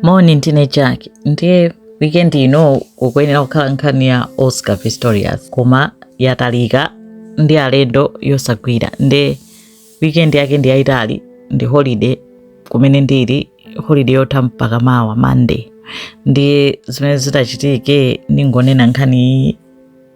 Moni ndine Jack ndiye weekend ino kukwenera kukhala nkhani ya Oscar Pistorius koma yatalika ndi alendo yosagwira nde weekend yake ndi yayitali ndi holiday kumene ndili holiday yotha mpaka mawa Monday ndiye zimene zitachitike ndingoonena nkhani iyi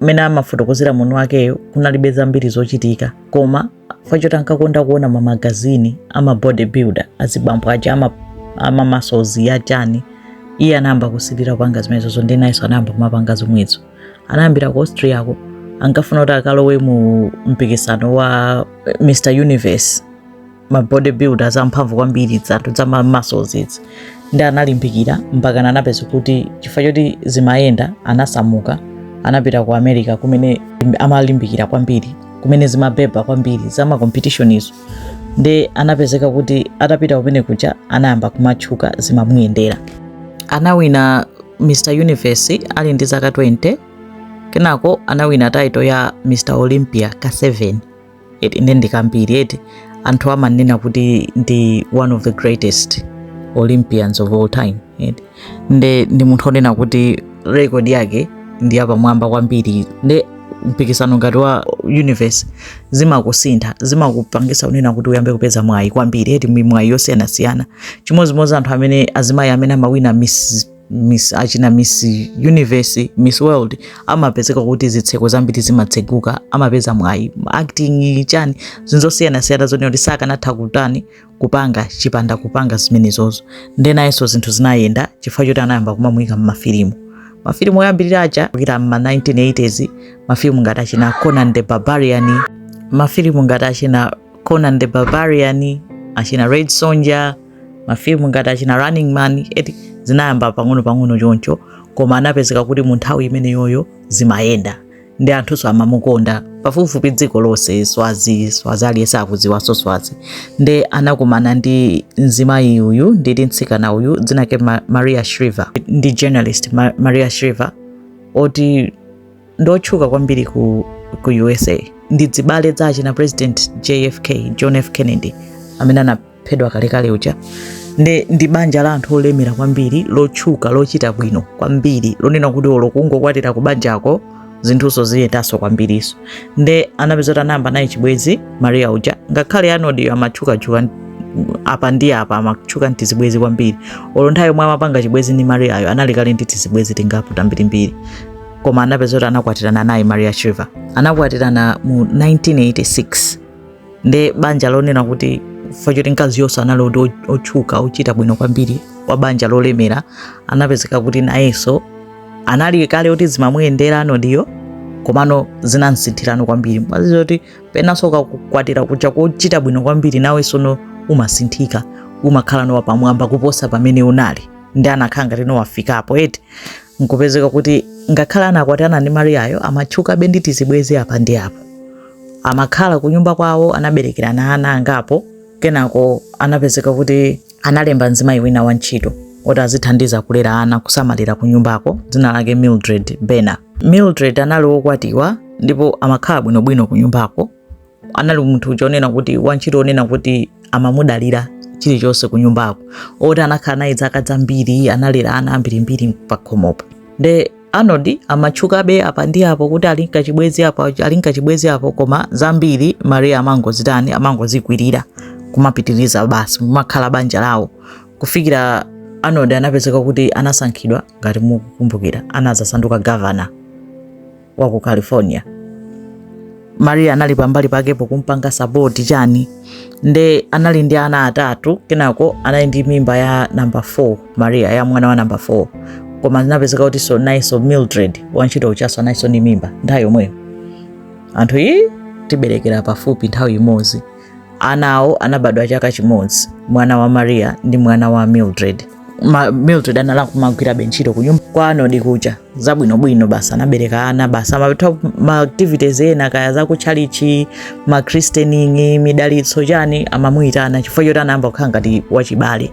mmene amafotokozera munthu wakeyo kunalibe zambiri zochitika koma fact yoti ankakonda kuona mamagazini ama bodybuilder azibambo aja ama, ama muscles ya chani iye anayamba kusilira kupanga zimenezozo ndi nayenso anayamba kumapanga zomwezo anayambira ku austria ko ankafuna kuti akalowe mu mpikisano wa eh, mr universe ma bodybuilders amphamvu kwambiri zanthu za ma muscles izi ndi analimbikira mpaka anapezeka kuti chifukwa choti zimayenda anasamuka anapita ku america kumene amalimbikira kwambiri kumene zimabeba kwambiri za ma competition izo ndi anapezeka kuti atapita kumene kuja anayamba kumatchuka zimamuyendera anawina mr universe ali ndi zaka 20 kenako anawina title ya mr olympia ka 7 eti nde ndi kambiri eti anthu amanena kuti ndi one of the greatest olympians of all time eti nde ndi munthu onena kuti record yake ndi yapamwamba kwambiri nde mpikisano ngati wa universe zimakusintha zimakupangisa unena kuti uyambe kupeza mwayi kwambiri eti mwayi yosiyanasiyana chimodzimodzi anthu amene azimayi amene amawina miss miss achina miss universe miss world amapezeka kuti zitseko zambiri zimatseguka amapeza mwayi acting chani zinthu zosiyanasiyana zonena kuti sakanatha kutani kupanga chipanda kupanga zimenezozo nde nayenso zinthu zinayenda chifukwa choti anayamba kumamuyika m'mafilimu mafilimu oyambirira aja kuyambira m'ma 1980s mafilimu ngati achina conan the barbarian mafilimu ngati achina conan the barbarian achina red sonja mafilimu ngati achina running man eti zinayamba pang'ono pang'ono choncho koma anapezeka kuti mu nthawi imeneyoyo zimayenda ndi anthunso amamukonda pafupifupi dziko lonse swazi swazi aliyense akudziwanso swazi nde anakumana ndi mzimayi uyu nditi mtsikana uyu dzina lake Ma- maria shriver ndi journalist Ma- maria shriver oti ndi otchuka kwambiri ku, ku usa ndi azibale a achina president jfk john f kennedy amene anaphedwa kalekale uja ndi, ndi banja la anthu olemera kwambiri lotchuka lochita bwino kwambiri lonena kuti olo kungokwatira ku banjako zinthuso ziyendanso kwambiriso nde anapeza kuti anayamba naye chibwezi maria uja ngakhale Arnold yo amatchukachuka apa ndi apa amatchuka ndi tizibwezi kwambiri olo nthawi yomwe amapanga chibwezi ndi mariayo anali kale ndi tizibwezi tingapo tambirimbiri koma anapeza kuti anakwatirana naye Maria Shriver. Anakwatirana mu 1986 nde banja lonena kuti chifukwa choti mkazi yonse anali kuti otchuka ochita bwino kwambiri wa banja lolemera anapezeka kuti nayenso anali kale kuti zimamuyendera Arnoldiyo komano zinamsinthirano kwambiri mwazizo kuti penanso ukakwatira kuja kochita bwino kwambiri nawenso umasinthika umakhala no wapamwamba kuposa pamene unali ndi anakhala ngati no wafikapo eti nkupezeka kuti ngakhale anakwatirana ndi mariyayo amatchukabe ndi tizibwezi apa ndi apo amakhala ku nyumba kwawo anaberekerana ana angapo kenako anapezeka kuti analemba mzimayi wina wa ntchito oti azithandiza kulera ana kusamalira ku nyumbako dzina lake mildred baena mildred anali wokwatiwa ndipo amakhala bwinobwino ku nyumbako anali munthu uja onena kuti wantchito onena kuti amamudalira chilichonse ku nyumbako oti anakhala naye zaka zambiri analera ana ambirimbiri pakhomopo nde arnold amatchukabe apa ndi apo kuti ali nkachibwezi apo ali nkachibwezi apo koma zambiri maria amangozitani amangozikwirira kumapitiriza basi nkumakhala banja lawo kufikira arnold anapezeka kuti anasankhidwa ngati mukukumbukira anazasanduka governor wa ku california maria anali pambali pakepo kumpanga support chani nde anali ndi ana atatu kenako anali ndi mimba ya namba 4 maria ya mwana wa namba 4 koma zinapezeka kutinso nayenso mildred wantchito ujaso analinso ndi mimba nthawi yomweyo anthu eti kuberekera pafupi nthawi imodzi Ana awo anabadwa chaka chimodzi, mwana wa Maria ndi mwana wa Mildred. Mildred anali nkumagwirabe ntchito kunyumba kwa Arnold kuja zabwinobwino basi anabereka ana basi amatha ma activities ena kaya za kutchalitchi ma christening midalitso chani amamuyitana chifukwa choti anayamba kukhala ngati wachibale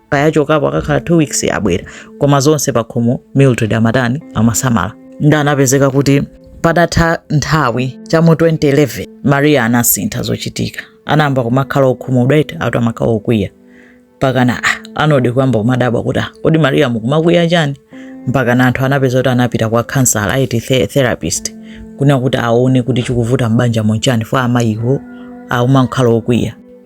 kaya achokapo akakhala 2 weeks abwera koma zonse pakhomo mildred amatani amasamala ndi anapezeka kuti padatha nthawi cha mu 2011 maria anasintha zochitika anayamba kumakhala okhumudwa eti atu amakhala okwiya mpakana arnold kuyamba kumadabwa kuti ah, kodi maria mukumakwiya chani mpakana anthu anapeza kuti anapita kwa counselor eti the- therapist kuja kuti aone kuti chikuvuta m'banjamo nchani fo amayiwo akumakhala okwiya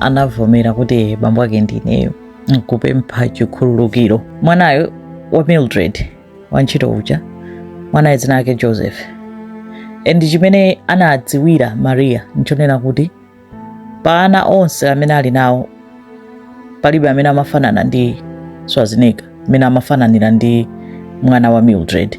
anavomera kuti bambo ake ndi ineyo nkupempha chikhululukiro mwanayo wa mildred wantchito uja mwanayo dzina lake joseph and chimene anadziwira maria nchonena kuti pa ana onse amene ali nawo palibe amene amafanana ndi schwarzenegger amene amafananira ndi mwana wa mildred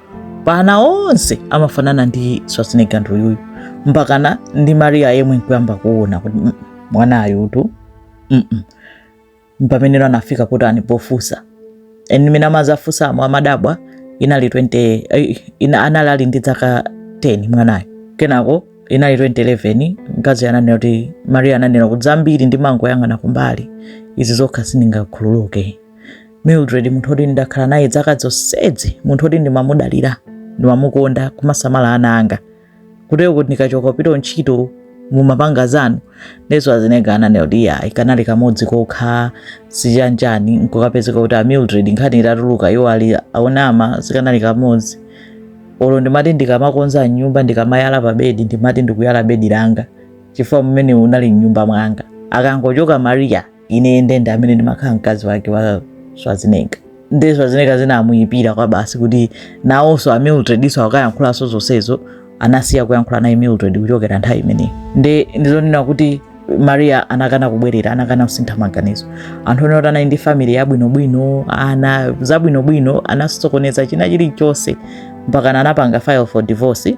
pa ana onse amafanana ndi Schwarzenegger nduyuyu mpakana ndi Maria yemwe nkuyamba kuona kuti mm, mwanayutu mm -mm. mpameneno anafika kutani pofunsa and mmene amadzafunsamo amadabwa inali 20 eh, ina anali ali ndi zaka 10 mwanayo kenako inali 2011 mkazi ananena kuti Maria ananena kuti zambiri ndimangoyang'ana kumbali izi zokha sindingakhululuke mildred munthu oti ndakhala naye zaka zonsezi munthu oti ndimamudalira ndimamukonda kumasamala ana anga kutero kuti ndikachoka kupita ntchito mumapanga zanu ndi schwarzenegger ananena kuti iyayi kanali kamodzi kokha chanichani nkukapezeka kuti a mildred nkhani itatuluka iwo ali akunama sikanali kamodzi olo ndimati ndikamakonza nyumba ndikamayala pa bedi ndimati ndikuyala bedi langa chifukwa mmene munali mnyumba mwanga akangochoka maria ine nde ndi amene ndimakhala mkazi wake wa schwarzenegger nde schwarzenegger zinamuyipira kwa basi kuti nawonso a mildrednso akayankhulanso zonsezo anasiya kuyankhula naye mildred kuchokera nthawi imeneyi nde ndizonena kuti maria anakana kubwerera anakana kusintha maganizo anthu onena kuti anali ndi family yabwinobwino ana zabwinobwino anasokoneza china chilichonse mpaka anapanga file for divorce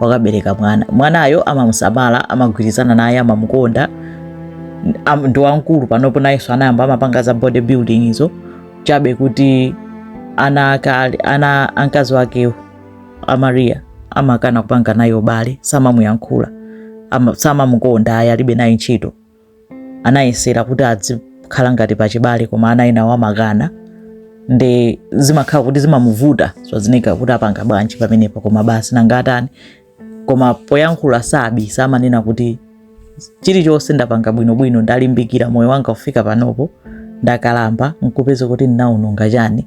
wakabereka mwana mwanayo amamusamala amagwirizana naye amamukonda ndi wamkulu panopo nayenso anayamba amapanga za body building izo chabe kuti ana akale ana a mkazi wakewo a maria amakana kupanga naye ubale samamuyankhula samamukonda ayi alibe naye ntchito anayesera kuti adzikhala ngati pachibale koma ana enawo amakana nde zimakhala kuti zimamuvuta schwarzenegger kuti apanga bwanji pamenepo koma basi nanga atani koma poyankhula sabisa amanena kuti chilichonse ndapanga bwinobwino ndalimbikira moyo wanga kufika panopo ndakalamba nkupeza kuti ndinaononga chani